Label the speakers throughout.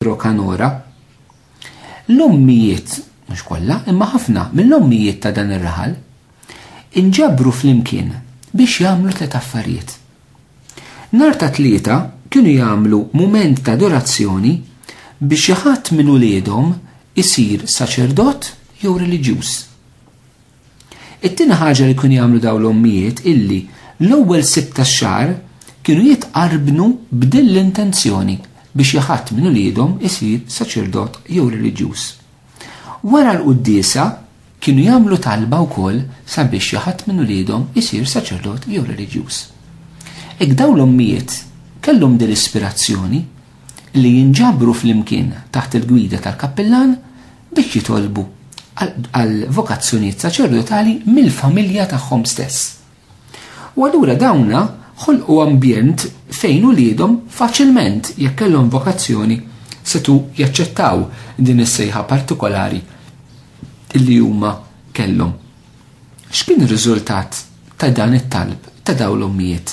Speaker 1: Rokanora. L-ommijiet, mhux kollha, imma ħafna mill-ommijiet ta' dan ir-raħal inġabru flimkien biex jagħmlu tliet affarijiet. Nar ta' tlieta kienu jagħmlu mument ta' adorazzjoni biex xi ħadd minn uliedhom isir saċerdot jew reliġjuż. It-tieni ħaġa li kienu jagħmlu dawn l-ommijiet illi l-ewwel sibt tax-xahar kienu jitqarbnu b'din l-intenzjoni biex ja ħadd minn uliedhom isir saċerdot jew reliġjuż. Wara l-quddiesa kienu jagħmlu talba wkoll sabiex ja ħadd minn uliedhom isir saċerdot jew reliġjuż. Hekk dawn l-ommijiet kellhom din l-ispirazzjoni li jinġabru flimkien taħt il-gwida tal-kappillan biex jitolbu għal vokazzjonijiet saċerdotali mill-familja tagħhom stess. U allura dawna ħolqu ambjent fejn uliedhom faċilment jekk kellhom vokazzjoni setu jaċċettaw din is-sejħa partikolari li huma kellhom. X'kien ir-riżultat ta' dan it-talb ta' dawn l-ommijiet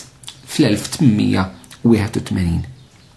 Speaker 1: fl-1881?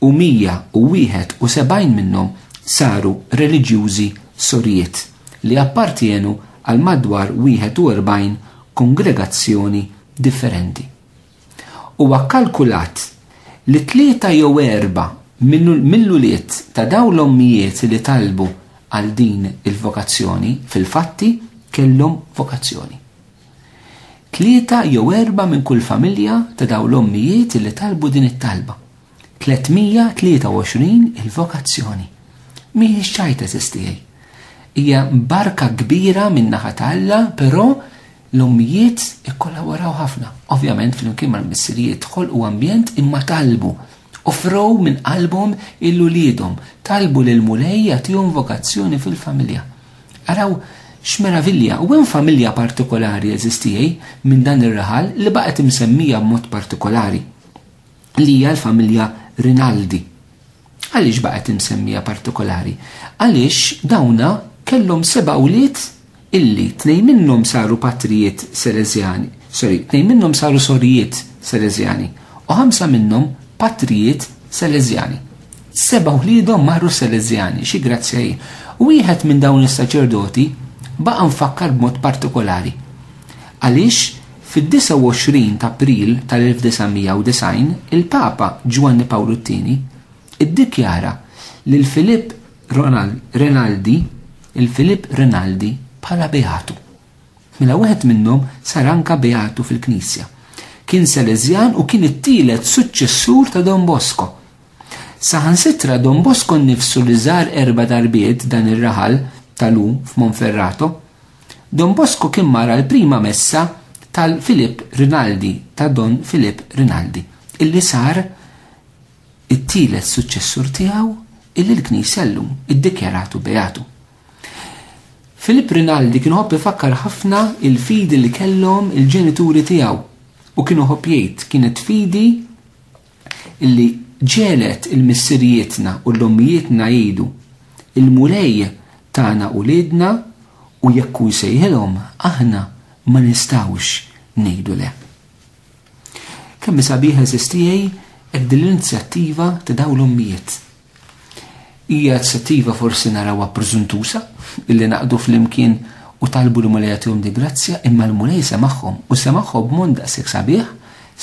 Speaker 1: u 171 minnhom saru reliġjużi sorijiet li appartjenu għal madwar 41 kongregazzjoni differenti. Huwa kkalkulat li tlieta jew erba' mill-ulied ta' dawn l-ommijiet li talbu għal din il-vokazzjoni fil-fatti kellhom vokazzjoni. Tlieta jew erbgħa minn kull familja ta' dawn l-ommijiet li talbu din it-talba. 323 Il-vokazzjoni mhijiex ċajta żiż tiegħi. Hija barka kbira min-naħa ta' Alla, però l-ommijiet ikkollaboraw ħafna. Ovvjament flimkien mal-missirijiet ħolqu ambjent imma talbu offrow minn qalbhom il-uliedhom, talbu lil Mulej jagħtihom vokazzjoni fil-familja. Araw x'meravilja, u hemm familja partikolari eżiż tiegħi minn dan ir-raħal li baqgħet imsemmija b'mod partikolari li hija l-familja Rinaldi. Għaliex baqgħet imsemmija partikolari? Għaliex dawna kellhom seba' wlied illi tnejn minnhom saru patrijiet Selezjani, sorry, tnejn minnhom saru sorijiet Selezjani u ħamsa minnhom patrijiet Selezjani. Seba' wliedhom marru Seleżjani, xi grazzja hi. Wieħed minn dawn is-saċerdoti baqa' mfakkar b'mod partikolari. Għaliex fid-29 ta' April tal-1990 il-Papa Ġwanni Pawlu t-Tieni iddikjara lil Filip Renaldi il-Filip Renaldi bħala beatu. Mela wieħed minnhom sar anka beatu fil-Knisja. Kien Seleżjan u kien it-tielet suċċessur ta' Don Bosco Saħansitra Don Bosco nnifsu li żar erba' darbiet dan ir-raħal tal-u f'Monferrato. Don Bosco kien mara l-prima messa tal-Filip Rinaldi ta' Don Filip Rinaldi, illi sar it-tielet suċċessur tiegħu illi l-Knisja llum iddikjaratu beatu. Filip Rinaldi kien ħobb ifakkar ħafna il-fidi li kellhom il-ġenituri tiegħu u kienu ħobb jgħid kienet fidi illi ġegħlet il-missirijietna u l-ommijietna jgħidu, Il-Mulej tana uliedna u jekk hu jsejħilhom aħna ma nistgħux ngħidu le. Kemm hi sabiħa eżistiegħi hekk din l-inizjattiva ta' dawn l-ommijiet. Hija inizjattiva forsi narawha preżuntuża illi naqdu flimkien u talbu li Mulej jagħtihom di grazzja imma l-Mulej semagħhom u semagħhom b'mod daqshekk sabiħ,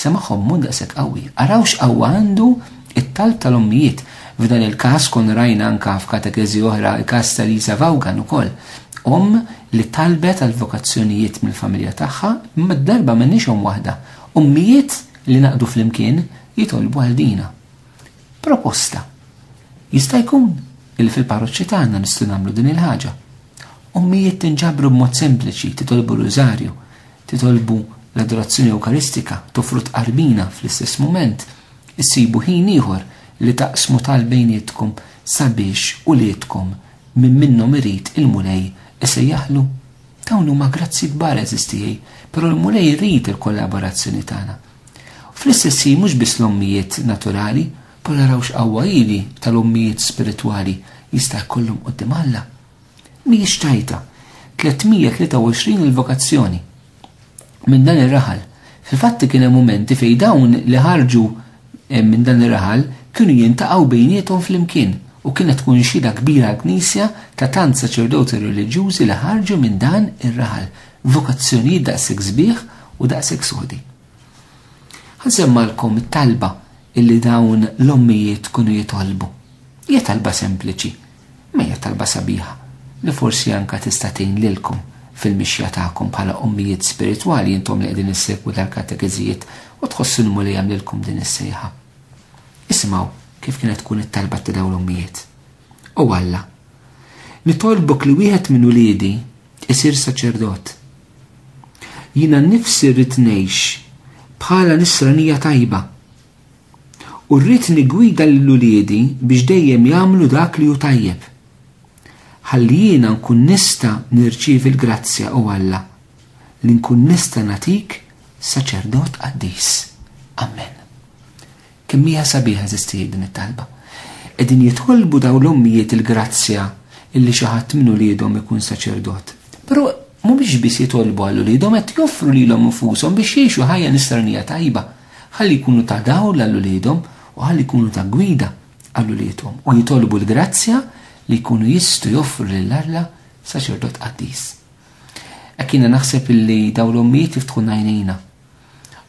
Speaker 1: semagħhom b'mod daqshekk qawwi. Araw x'qawwa għandu it-talb tal-ommijiet. F'dan il-każ kon rajna anka f'katekeżi oħra il-każ ta' Lisa Vaughan ukoll. Omm li talbet għal vokazzjonijiet mill-familja tagħha imma d-darba m'għandniex omm waħda. Ommijiet li naqdu flimkien jitolbu għal dina. Proposta. Jista' jkun illi fil-parroċċi tagħna nistgħu nagħmlu din il-ħaġa. Ommijiet tinġabru b'mod sempliċi, titolbu r-rużarju, titolbu l-adorazzjoni ewkaristika, tofru tqarbina fl-istess mument, issibu ħin ieħor li taqsmu tal bejnietkom sabiex uliedkom minn minnhom irid il-Mulej isejjaħlu. Dawn huma grazzi kbar għeżiż tiegħi, però l-Mulej irid il-kollaborazzjoni tagħna. U fl-istess ħin mhux biss l-ommijiet naturali, però araw x'qawwa hi li tal-ommijiet spiritwali jista' jkollhom quddiem Alla. Mhijiex tajta. 323 il-vokazzjoni. Minn dan ir-raħal. Fil-fatti kien hemm mumenti fejn dawn li ħarġu eh, minn dan ir-raħal kienu jintaqgħu bejniethom flimkien u kienet tkun xhieda kbira l-Knisja ta' tant saċerdoti reliġjużi li ħarġu minn dan ir-raħal vokazzjonijiet daqshekk sbieħ u daqshekk sodi. Ħansemmgħalkom it-talba illi dawn l-ommijiet kunu jitolbu. Hija talba sempliċi, ma hija talba sabiħa li forsi anka tista' tgħin lilkom fil-mixja tagħkom bħala ommijiet spiritwali intom li qegħdin issegwu dal-katekeżijiet u tħossu li Mulej għamlilkom din is-sejħa. Isimgħu kif kienet tkun it-talba ta' dawn l-ommijiet. O Alla, nitolbok li wieħed minn uliedi isir saċerdot. Jiena nnifsi rrid ngħix bħala nisranija tajba. U rrid nigwida lil uliedi biex dejjem jagħmlu dak li hu tajjeb. Ħalli jiena nkun nista' nirċievi l-grazzja u Alla li nkun nista' natik saċerdot qaddis. Amen. Kemm hija sabiħa eżistijiet din it-talba. Qegħdin jitolbu dawn l-ommijiet il-grazzja illi xi ħadd minn uliedhom ikun saċerdot. Però mhumiex biss jitolbu għal uliedhom qed joffru lilhom infushom biex jgħixu ħajja nisranija tajba, ħalli jkunu ta' dawl għal uliedhom u ħalli jkunu ta' gwida għal uliedhom u jitolbu l-grazzja li jkunu jistgħu joffru lil Alla saċerdot qaddis. Hekk jiena naħseb illi dawn l-ommijiet jiftħu ngħinina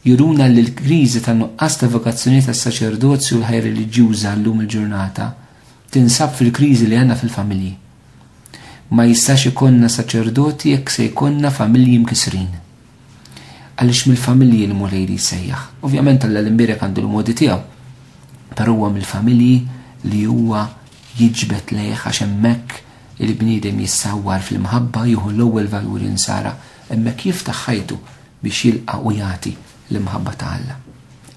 Speaker 1: juruna li l-kriżi tan-nuqqas ta' vokazzjonijiet għas-saċerdozju u l-ħajja reliġjuża llum il-ġurnata tinsab fil-kriżi li għandna fil-familji. Ma jistax ikollna saċerdoti jekk se jkollna familji mkisrin. Għaliex mill-familji li Mulej li jsejjaħ. Ovvjament Alla l-imbierek għandu l-modi tiegħu, però huwa mill-familji li huwa jiġbed lejh għax hemmhekk il-bniedem jissawwar fl-imħabba jieħu l-ewwel valuri nsara, hemmhekk jiftaħ ħajtu biex jilqa' u jagħti l-imħabba ta' Alla.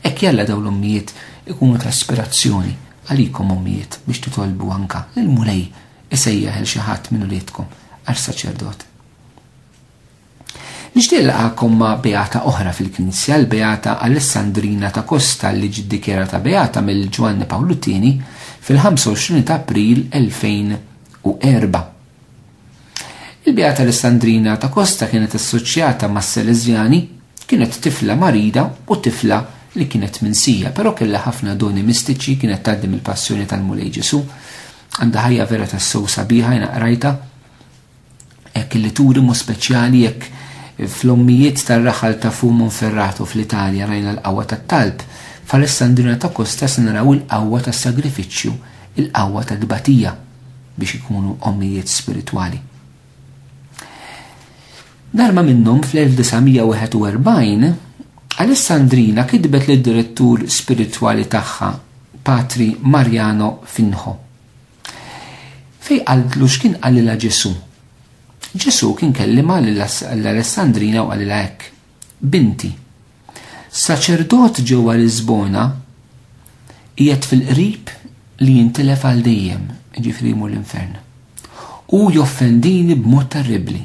Speaker 1: Hekk jalla dawn l-ommijiet ikunu ta' ispirazzjoni għalikom ommijiet biex titolbu anka lill-Mulej isejjaħ il xi ħadd minn uliedkom għal saċerdot. Nixtieq laqakom ma' beata oħra fil-Knisja, l-beata Alessandrina ta' Kosta li ġiddikjerata beata mill Ġwanni Pawlu Tieni fil-25 ta' April 2004. Il-bija tal-Islandrina ta' Kosta kienet assoċjata mas-Seleżjani, kienet tifla marida u tifla li kienet minsija, però kellha ħafna doni mistiċi, kienet tgħaddi mill-passjoni tal-Mulej Ġesu. Għandha ħajja vera tas-sew sabiħa jina qrajta. Hekk li turi mu speċjali jekk fl-ommijiet tar-raħal ta' Fu Monferrato fl-Italja rajna l-qawwa tat-talb, f'Alessandrina ta' Kosta se naraw il-qawwa tas-sagrifiċċju, il-qawwa ta' tbatija. biex ikunu ommijiet spiritwali. Darba minnhom fl-1941, Alessandrina kitbet lid direttur spiritwali tagħha, Patri Mariano Finħo. Fej qaltlu x'kien qalilha Ġesu. Ġesu kien kellima l-Alessandrina u qalilha hekk. Binti. Saċerdot ġewwa Lisbona qiegħed fil-qrib li jintilef għal dejjem, ġifri jmur l-infern. U joffendini b'mod terribli.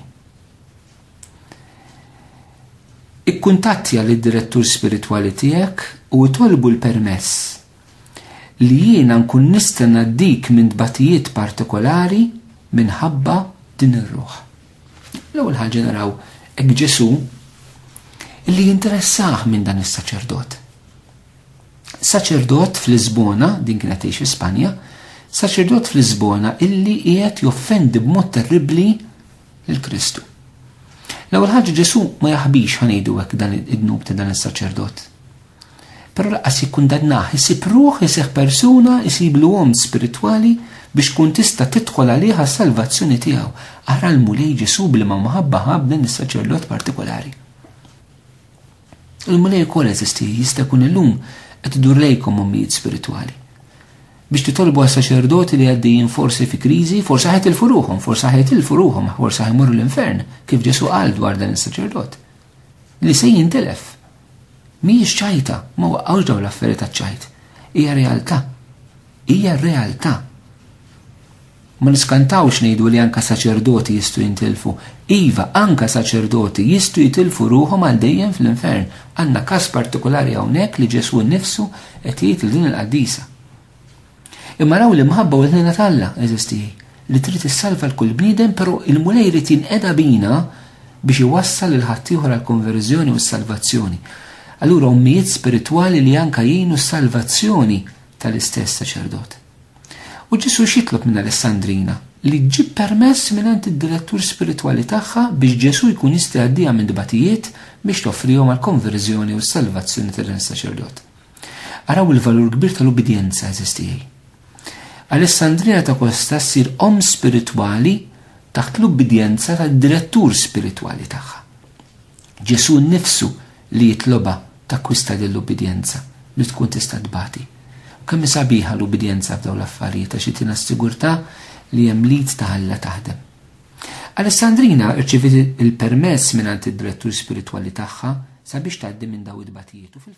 Speaker 1: Ikkuntattja lid direttur spiritwali tiegħek u itolbu l-permess li jiena nkun nista' ngħaddik minn tbatijiet partikolari minħabba din ir-ruħ. L-ewwel ħaġa naraw hekk Ġesù li jinteressah minn dan is-saċerdot. Saċerdot fl-Lisbona, din kienet tgħix fi Spanja, saċerdot fl-Lisbona illi qiegħed joffendi b'mod terribbli lil Kristu. L-ewwel ħaġa Ġesù ma jaħbix ħanejdu hekk dan id-dnub ta' dan is-saċerdot. Però laqqas jikkundannah, isib ruħ iseħħ persuna, isiblu omm spiritwali biex tkun tista' tidħol għalih għas-salvazzjoni tiegħu. Ara l-Mulej Ġesù b'liema mħabba ħa b'dan is-saċerdot partikolari. Il-Mulej ukoll eżisti jista' jkun illum qed idur lejkom ommijiet spiritwali. Biex titolbu għas saċerdoti li għaddejjin forsi fi kriżi, forsi ħajt il-furuħom, forsi ħajt il-furuħom, forsi ħajmorru l-infern, kif Ġesu għal dwar dan is-saċerdot. li se jintilef. Mhijiex ċajta, ma waqgħux dawn l-affarijiet taċ-ċajt. Hija realtà. Hija realtà. Ma niskantawx ngħidu li anka saċerdoti jistgħu jintilfu. Iva, anka saċerdoti jistgħu jitilfu ruħhom għal dejjem fl-infern. Għandna każ partikolari hawnhekk li Ġesù nnifsu qed jgħid lil din il-qaddisa. Imma raw l-imħabba u l-ħnina t'Alla, eżisti, li trid issalva l-kull bniedem, però il-Mulej irid jinqeda bina biex iwassal lil ħaddieħor għall-konverżjoni u s-salvazzjoni. Allura ommijiet spiritwali li anka jgħinu s-salvazzjoni tal-istess saċerdot. U Ġesu xitlob minn Alessandrina li ġib permess minn għand id-direttur spiritwali tagħha biex Ġesu jkun jista' jgħaddija minn dbatijiet biex toffrihom għal konverżjoni u salvazzjoni tal-saċerdot. Araw il-valur kbir tal-ubbidjenza, għeżież tiegħi. Alessandrina ta' Kosta ssir omm spiritwali taħt l-ubbidjenza tad-direttur spiritwali tagħha. Ġesù nnifsu li jitlobha takkwista lill-ubbidjenza li tkun tista' tbati. U kemm hi sabiħa l-ubbidjenza f'dawn l-affarijiet għax itina s-sigurtà li hemm l-id ta' Alla taħdem. Alessandrina rċiviet il-permess mingħand id-direttur spiritwali tagħha sabiex tgħaddi minn dawn it-tbatijiet u fil